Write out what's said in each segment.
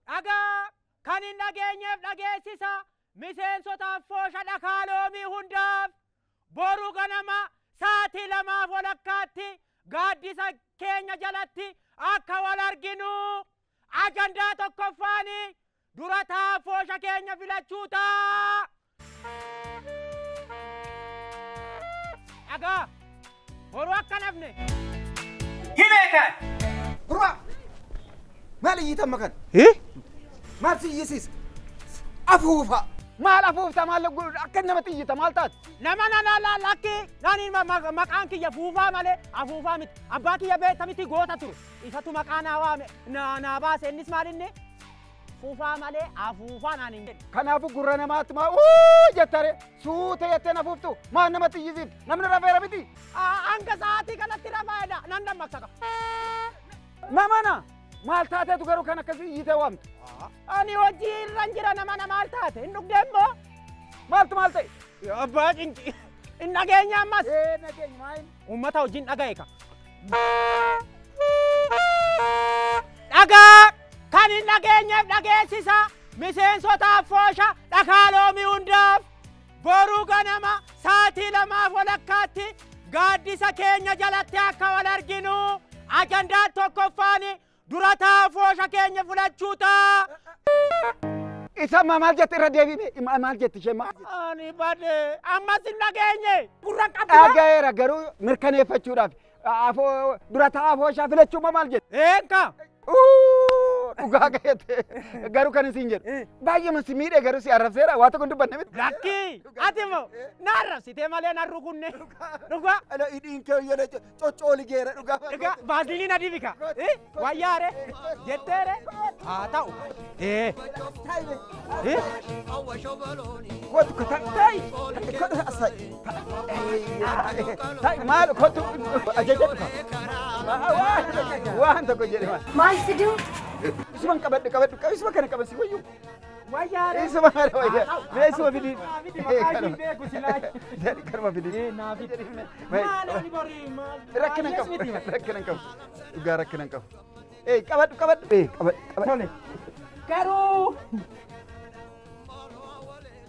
dhagaa kan hin dhageenyeef dhageessisa miseensotaaf foosha dhakaa loomii hundaaf boru ganama sa'aatii lamaaf walakkaatti gaaddisa keenya jalatti akka wal arginu ajandaa tokkoffaanii Dura taa'aa foosha keenya filachuu ta'a! Dhagaa! Boruu akka hin hafne! Gurbaa! Maal iyyita amma kana? Maal si iyyisiisa? Afuufa! Maal afuufta maal godhu akka namatti iyyita maal taate? Nama nana la lakki nani ma- ma- maqaan kiyya fuufaa malee afuufaa miti. Abbaa kiyya beekta miti goota ture. Isatu maqaa naa waame, naa naa baase, innis maal inni? Fufaa malee afuufaa naan hin jedhe. Kanaafuu gurra namaatti maa uu jetta ree? Suuta jettee na fuuftu maan namatti iyyisiifti? Namni rafeera miti? Aa, Hanga sa'aatii kanatti rafaa edaa nan dammaqsa ka. Namana! Maal taateetu garuu kan akkasii iyyitee waamtu? Ani hojii irran jira namana maal taate? Hin dhugdee immoo? Maaltu maal ta'e? Abbaa cinci. Hin dhageenye ammas. Ee nageenya maayin? Uummata wajjin dhaga'e ka. Dhagaa kan hin dhageenyeef dhageessisa miseensotaaf foosha dhakaa loomii hundaaf boruu ganama saatii lamaaf walakkaatti gaaddisa keenya jalatti akka wal arginu ajandaan tokkoffaan Dura taa foosha keenya filachuu taa. Isa ma maal jette irra deebi'i mee ma- maal jette ishee maal jette? Ani bade ammas hin dhageenye. Gurra qabdi. Dhagayeera garuu mirkaneeffachuudhaaf afoo dura taa afooshaa filachuu ma maal jette? Eenka. Uu, Dhugaa ga'eete garuu kan isin jedhu baay'eema si miidhe garuu si arrabseera waa tokko hin dubbanne miti. Lakki. Ati moo. Na arrabsitee malee na rukunne. Dhugaa. Ala hidhiin kee hoyyana coccooli geera dhugaa. Dhugaa vaaziliin adii bika. Wayyaa re jettee re haa ta'u. Ee. Ee. Kootu kota ta'i kota asai ta'i maal kootu ajaja dhufa. Waan tokko jedhe maal. Maal fiduu? Isuma qabadhu qabadhu isuma kana qaban si wayyu. Wayyaare. Isuma maal wayyaa? Mee isuma fidii. Jedhi karma fidii. Rakkina hin qabu. Rakkina hin qabu. Dhugaa rakkina hin qabu. Ee qabadhu qabadhu. Ee qabadhu qabadhu. Garuu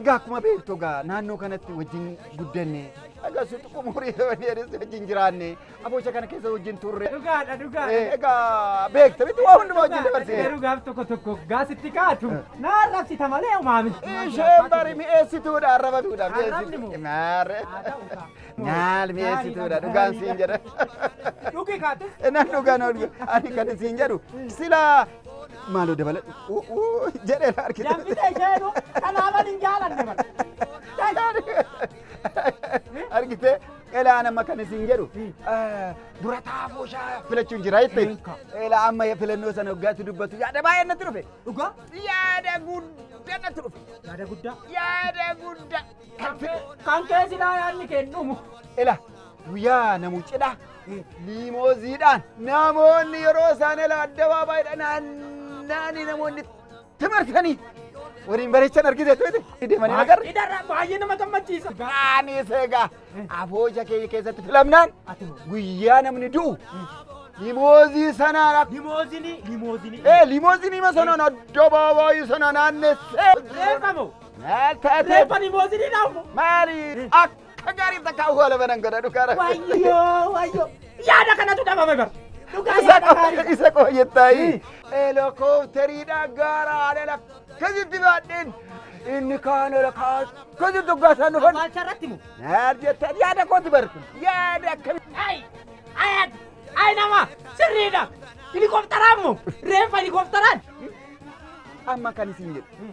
Egaa akkuma beektu egaa naannoo kanatti wajjin guddanne akkasuma xiqqoo umurii dheeris wajjin jiraanne aboocha kana keessa wajjin turre. Dhugaadha Eh, dhugaadha. Egaa beekta miti waa hundumaa wajjin Garuu dabarsine. gaaf tokko tokko gaasitti kaatu na arrabsita malee umaami. Isheen bari mi'eessituudha arrabatuudha Arrabni moo? mi'eessituudha. Maarre. Haa ta'u ta'a. Maal mi'eessituudha dhugaan siin jedha. Dhugi kaatu. Nan dhugaan ol ani kan siin jedhu sila Maaloo dabaladhu. Uuuu jedhee na argite. Danfitee isheenuu kanaaman hin jaalanne bara. Argitee elaa nama kan isin jedhu dura taafoo shaa filachuun jira jettee. Beeka. Elaa amma filannoo sana waggaatti dubbatu yaada baay'ee natti dhufe. Dhugaa Yaada guddaa natti dhufe. yaada guddaa. Yaada guddaa. Kan kee silaa yaadni kee hin dhumu. Ila guyyaa namu cidhaa liimooziidhaan namoonni yeroo isaan ila addabaabaayidha naanna'anii namoonni itti marsanii waliin bareechan argite tuuti deemanii nagarra. Idarra baay'ee nama gammachiisa. Kaanis egaa abooja keenya keessatti filamnaan guyyaa namni du'u limoozii sanaan akka Limoozinii. Limoozinii. ee limoozinii sanaan addabaabaayii sana naannessee Beekamu. Maal taate? Reeffa limoozinii naammo. Maali? Akka gaarii takka awwaala banan godha dhugaa rabbi. Wayyoo wayyoo. Yaada kanatu dhabame bar. Dhugaa Isa yaada qo- gaarii. isa qo jettaayi. Heelikoopteriidha gaara alala akkasitti baadheen inni kaan ala kaan akkasitti uggaasaa dhufan. Awwaalcha irratti moo? Maal jettaan yaada kooti bar kun yaada akkamitti. Ayi! Ayat! Ayi nama! Sirriidha! Helikoptaraan moo? Reeffa helikoptaraan! Amma kan isin jedhu.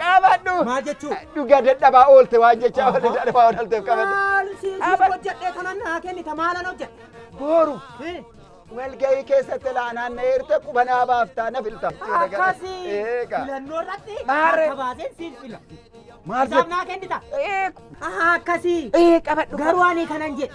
Qabadhu. Maal jechuu? Dhugaa dadhabaa oolte waan jechaa oolte dadhabaa oolteef qabadhu. Maal si hojjedhee kanan naa kennita maalan hojjedhe? Booru. Walgahii keessatti laanaan na eerta qubanaa baaftaa na filta. Akkasi Eega. filannoo irratti Maarre. akka baaseen siif fila. Maal Isaaf naa kennita? Akkasi. Ee qabadhu. Garuu ani kanan jedhe.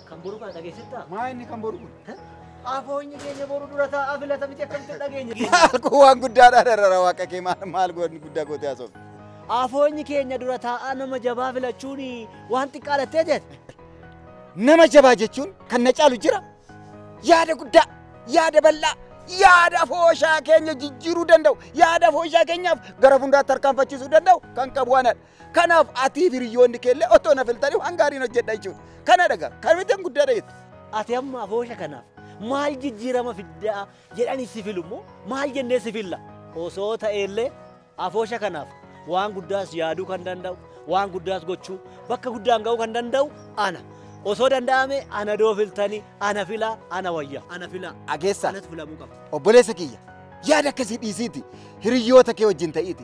Kan boru kana dhageessittaa? Maa inni kan boru kun? Afoonyi keenya boru dura taa'aa filata miti akkamitti dhageenya keenya? Maal kun waan guddaadhaa dharara waaqa kee maal maal goonni guddaa gootee haasofte. Afoonyi keenya dura taa'aa nama jabaa filachuun waan xiqqaa lattee jette. Nama jabaa jechuun kan na caalu jira. Yaada guddaa, yaada bal'aa, yaada afooshaa keenya jijjiiruu danda'u, yaada afooshaa keenyaaf gara fuulduraa tarkaanfachiisuu danda'u kan qabu anadha. Kanaaf atii fi hiriyoonni kee illee otoo na filtanii waan gaariin hojjedha jechuudha. Kana dhagaa kamiteen guddaa dhageettu. Ati amma afoosha kanaaf maal jijjiirama fiddaa jedhanii si filu immoo maal jennee si filla? Osoo ta'e illee afoosha kanaaf waan guddaas yaaduu kan danda'u, waan guddaas gochuu, bakka guddaan ga'uu kan danda'u ana. Osoo danda'ame ana doo filtanii, ana filaa, ana wayyaa, ana filaa. Ageessaa. Anatu filamuu qaba. Obboleessa kiyya yaada akkasii dhiisiiti hiriyoota kee wajjin ta'iiti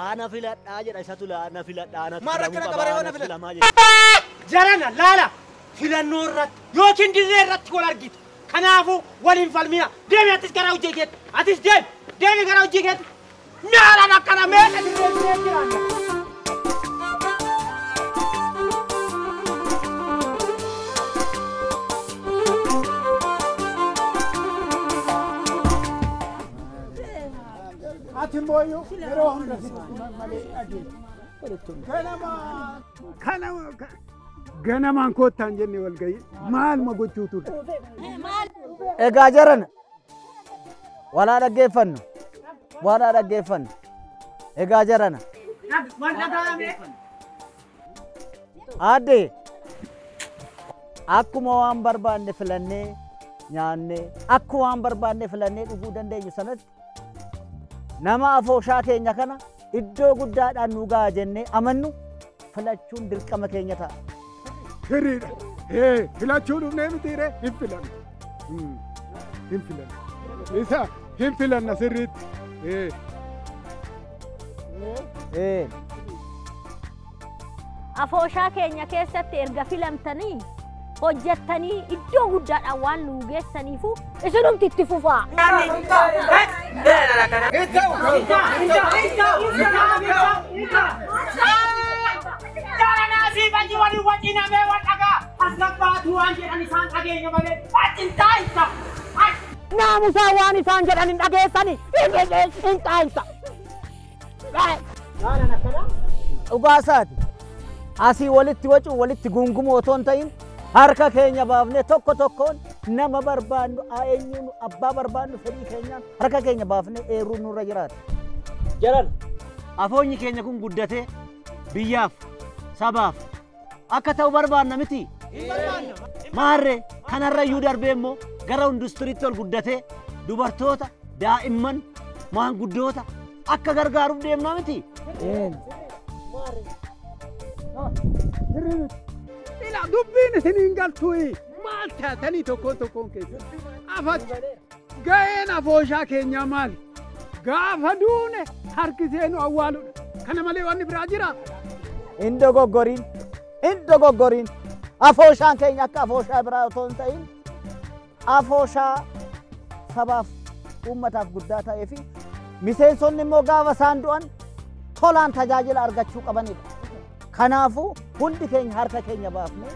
Aa na filadhaa jedha isatu la na filadhaa anatu Maal filamuu rakkina qaba, qabaa yoo na anatu filadhu? filamaa jedha. Jarana laala filannoo irratti yookiin dirree irratti wal argitu. Kanaafuu wal hin falmina. Deemi atis gara hojii keetti. Atis deemi. Deemi gara hojii keetti. Naalaan akkana meeqa dirree dirree jiraanna. Ati immoo iyyuu yeroo hunda malee dhageessa. Ganama. Kanama. Ganamaan koottaan jenne wal ga'ii maaluma gochuu turte. Egaa jarana walaa dhaggeeffannu walaa dhaggeeffannu egaa jarana. Wal dhagaa'ame. Aadde akkuma waan barbaanne filannee nyaannee akkuma waan barbaanne filannee dhuguu dandeenyu sanatti nama afooshaa keenya kana iddoo guddaadhaan nu ga'a jennee amannu filachuun dirqama keenya ta'a. Hiriidha. Ee, filachuu dhufnee mitiiree hin filanne. Hmm. Hin filanna. Isa hin filanna sirriitti. Ee. Ee. Afooshaa keenya keessatti erga filamtanii hojjettanii iddoo guddaadhaan waan nu geessaniifu isinumti itti fufaa. Isa. Isa. Isa. Isa. Isa. Garanaa siif achi waliin wacina mee wal dhagaa. As gabbaatuu waan jedhan isaan dhageenya malee achi hin taa'insa. Achi. Naamusaa waan isaan jedhan hin dhageessani hin taa'insa. Gaaraan akkanaa. Dhugaa isaati. Asii walitti wacuu walitti gungumoo otoo hin ta'in harka keenya baafnee tokko tokkoon nama barbaannu eenyuun abbaa barbaannu fedhii keenyaan harka keenya baafnee eeruun nurra jiraata. Jaran. Afoonyi keenya kun guddatee biyyaaf, sabaaf akka ta'u barbaanna miti? Maarree kanarrayyuu darbee immoo gara industiriitti ol guddatee dubartoota, daa'imman, maanguddoota akka gargaaruuf deemna miti? Ila dubbiin isiniin galtuuyi. Maal taatanii tokkoon tokkoon keessatti? Afatti. Ga'een afooshaa keenyaa maali? Gaafa duune harkisee nu awwaaludha. Kana malee wanni biraa jiraa? Hin dogoggorin, hin dogoggorin. Afooshaan keenya akka afooshaa biraa otoo hin ta'in afooshaa sabaaf uummataaf guddaa ta'ee fi miseensonni immoo gaafa isaan du'an tolaan tajaajila argachuu qabanidha. Kanaafuu hundi keenya harka keenya baafnee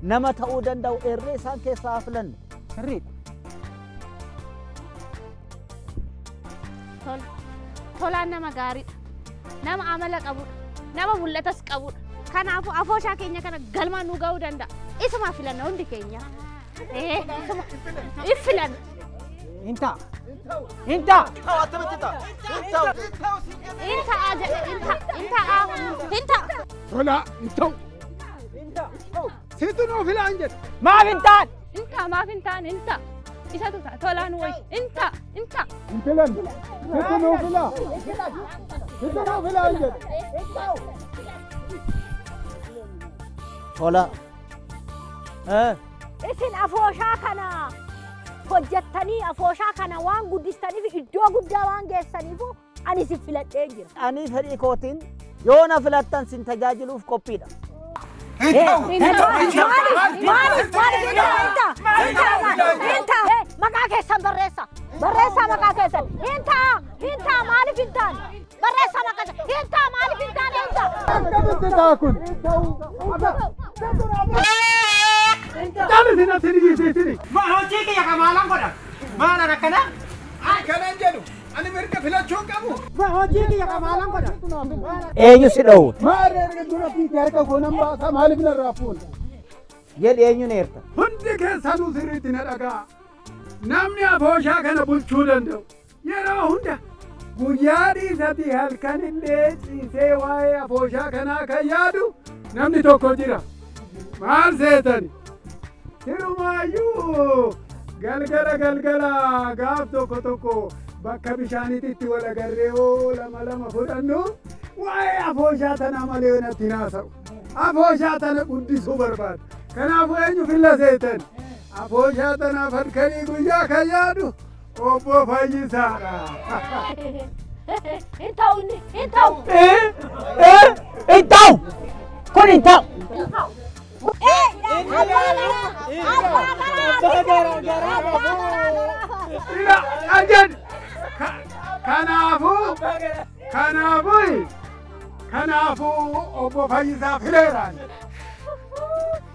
nama ta'uu danda'u eerree isaan keessaa haa filannu. Sirriidha. Tol. Tolaan nama gaariidha. Nama amala qabudha. Nama mul'atas qabudha. Kanaafuu afooshaa keenya kana galmaan nu ga'uu danda'a. Isuma filanna hundi keenya. Ee, isuma. If filanna. Hin ta'a. Hin ta'a. Ta'u attamitti ta'a? Hin ta'u. Hin ta'a jedhe. Hin ta'a. Hin ta'a. Hin ta'a. Tolaa hin ta'u. Situ nuu filaan jedhe. Maaf hin taane. Inta maaf hin taane inta. Isatu ta'a tolaan wayi inta inta. Hin filan. Situ nuu filaa. Situ nuu filaan jedhe. Tola. Eh. Isin afooshaa kana hojjettanii afooshaa kana waan guddistaniif iddoo guddaa waan geessaniif Ani si filadhee jira. Ani fedhii kootiin yoo na filattan sin tajaajiluuf qophiidha. Maqaa keessan barreessa. Barreessaa maqaa keessan. Hin ta'a. Hin ta'a. Maaliif hin taane? Barreessaa maqaa keessan. Hin ta'a. Maaliif hin taane? Hin ta'a. Akkamitti ta'a kun? Taphisi natti dhiyeessitini. Hojii kiyya kan maalan godha? Maalan akkana? Akkanan jedhu. Ani mirga filachuu hin qabu. Hojii kiyya kan maalan godha? Eenyu si dhoowwe? Maal ergitu rabbiitti harka koo nan baasa maaliif narraa fuuna? Jedhi eenyuun eerta? Hundi keessanuu sirriitti na dhaga'a. Namni abooshaa kana bulchuu danda'u yeroo hunda guyyaa dhiisatii halkan illee ciisee waa'ee abooshaa kanaa kan yaadu namni tokko jira. Maal seetani? Hirumaayyuu galgala galgala gaaf tokko tokko bakka bishaaniitti itti wal agarree hoo lama lama fudhannu waa'ee afooshaa tanaa malee natti naasa'u. Afooshaa tana guddisuu barbaada. Kanaafuu eenyu filla seetan? Afooshaa tanaaf halkanii guyyaa kan yaadu Obbo Fayyisaadha. Hin ta'u inni, hin ta'u. Hin ta'u! Kun hin ta'u! Ila argan. Kanaafuu kanaafuu kanaafuu obbo Fayyisaa fileeraan.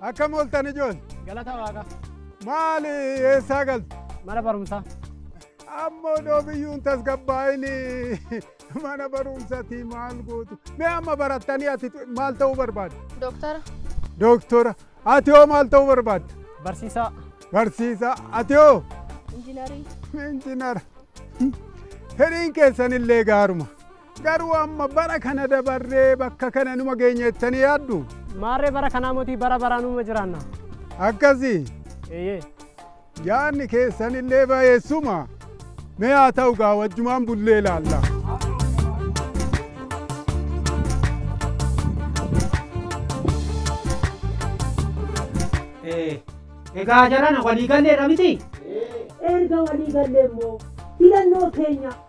Akkam ooltan ijoon? Galata waaqa. Maali eessaa galtu? Mana barumsaa. Ammoo dhoobiyyuun tasgabbaa'ini mana barumsaatii maal gootu? Mee amma barattanii ati maal ta'uu barbaaddu? Dooktara. Dooktora. Ati hoo maal ta'uu barbaadda? Barsiisaa. Barsiisaa. Ati hoo? Injinarii. Injinara. Fedhiin keessanillee gaaruma. Garuu amma bara kana dabarree bakka kana numa geenya jettanii yaaddu? Maarree bara kanaa motii bara baraa numa jiraanna. Akkasii? Eeyyee. Yaadni keessanillee bayeessuma. Mee haa ta'u gaa wajjumaan bullee ilaalla. Egaa jarana walii galleedha miti? Erga walii gallee immoo filannoo keenya